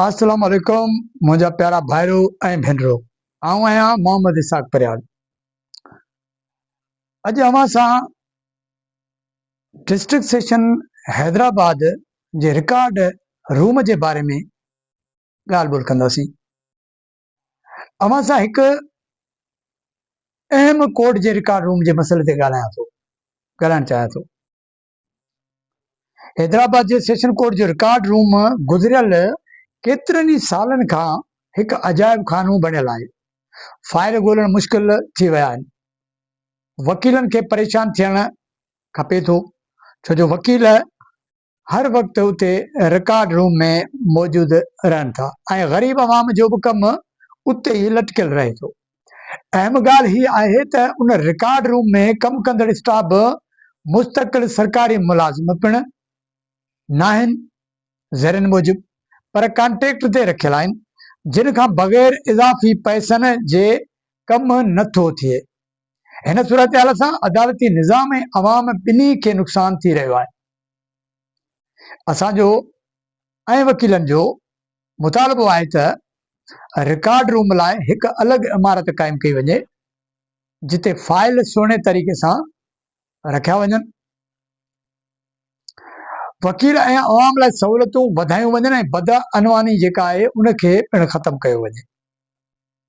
السلام عليڪم منهنجا پيارا ڀائرو ۽ ڀينرو آئون آهيان محمد اسحاق پريال اڄ اوهان سان ڊسٽرڪٽ سيشن حيدرآباد جي رڪارڊ روم جي باري ۾ ڳالهه ٻولهه ڪنداسين اوهان سان هڪ اهم ڪورٽ جي رڪارڊ روم جي مسئلي تي ڳالهايان ٿو ڳالهائڻ چاهيان ٿو حيدرآباد جي سيشن ڪورٽ جو رڪارڊ روم گذريل ڪيترن ئي سالن کان هڪ عجائب خانو بڻيل آهي. فائل ڳولڻ مشڪل ٿي ويا آهن. وڪيلن کي پريشان ٿيڻ کپي ٿو ڇو جو وڪيل هر وقت اتي رڪارڊ روم ۾ موجود رهن ٿا ۽ غريب عوام جو به ڪم اتي ئي لٽڪيل رهي ٿو. اهم ڳالهه هي آهي ته ان رڪارڊ روم ۾ ڪم ڪندڙ اسٽاف به مستقل سرڪاري ملازم پڻ ناهن، ذريعن موجب، پر ڪانٽريڪٽ تي رکيل آهن، جن کان بغير اضافي پئسن جي ڪم نه ٿو ٿئي. هن صورتحال سان عدالتي نظام ۽ عوام ٻنهي کي نقصان ٿي رهيو آهي. اسان جو ۽ وڪيلن جو مطالبو آهي ته رڪارڊ روم لاء هڪ الڳ عمارت قائم ڪئي وڃي جتي فائل سهڻي طريقي سان رکيا وڃن، وڪيل ۽ عوام لاء سهولتون وڌايون وڃن ۽ بدعنواني جيڪا آهي ان کي پڻ ختم ڪيو وڃي.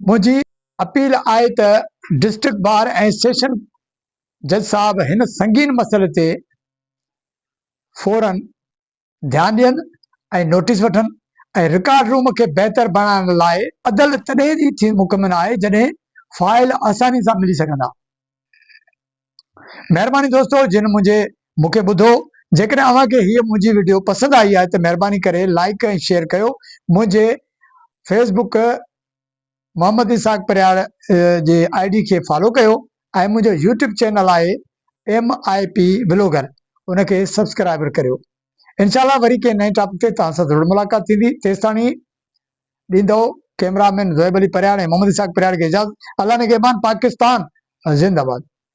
منهنجي اپيل آهي ته ڊسٽرڪٽ بار ۽ سيشن جج صاحب هن سنگين مسئلي تي فورن ڌيان ڏين ۽ نوٽيس وٺن ۽ رڪارڊ روم کي بهتر بڻائڻ لاء عدل تڏهن ئي ٿي مڪمن آهي جڏهن فائل آساني سان ملي سگهندا. مهرباني دوستو جن منهنجي مون کي ٻڌو جيڪڏهن اوهان کي هيء منهنجي وڊيو پسند آئي آهي ته مهرباني ڪري لائيڪ ۽ شيئر ڪيو منهنجي فيس بڪ محمد اسحاق پرهياڙ جي آء ڊي کي فالو ڪيو ۽ منهنجو يوٽيوب چينل آهي ايم آء پي بلاگر ان کي سبسڪرائبر ڪريو انشاء الله وري ڪنهن نئين ٽاپڪ تي توهان سان ضرور ملاقات ٿيندي تيستاڻي ڏيندو ڪيمرا مين زويب علي پرهياڙ ۽ محمد اسحاق پرهياڙ کي اجازت الله نگهبان پاڪستان زنده باد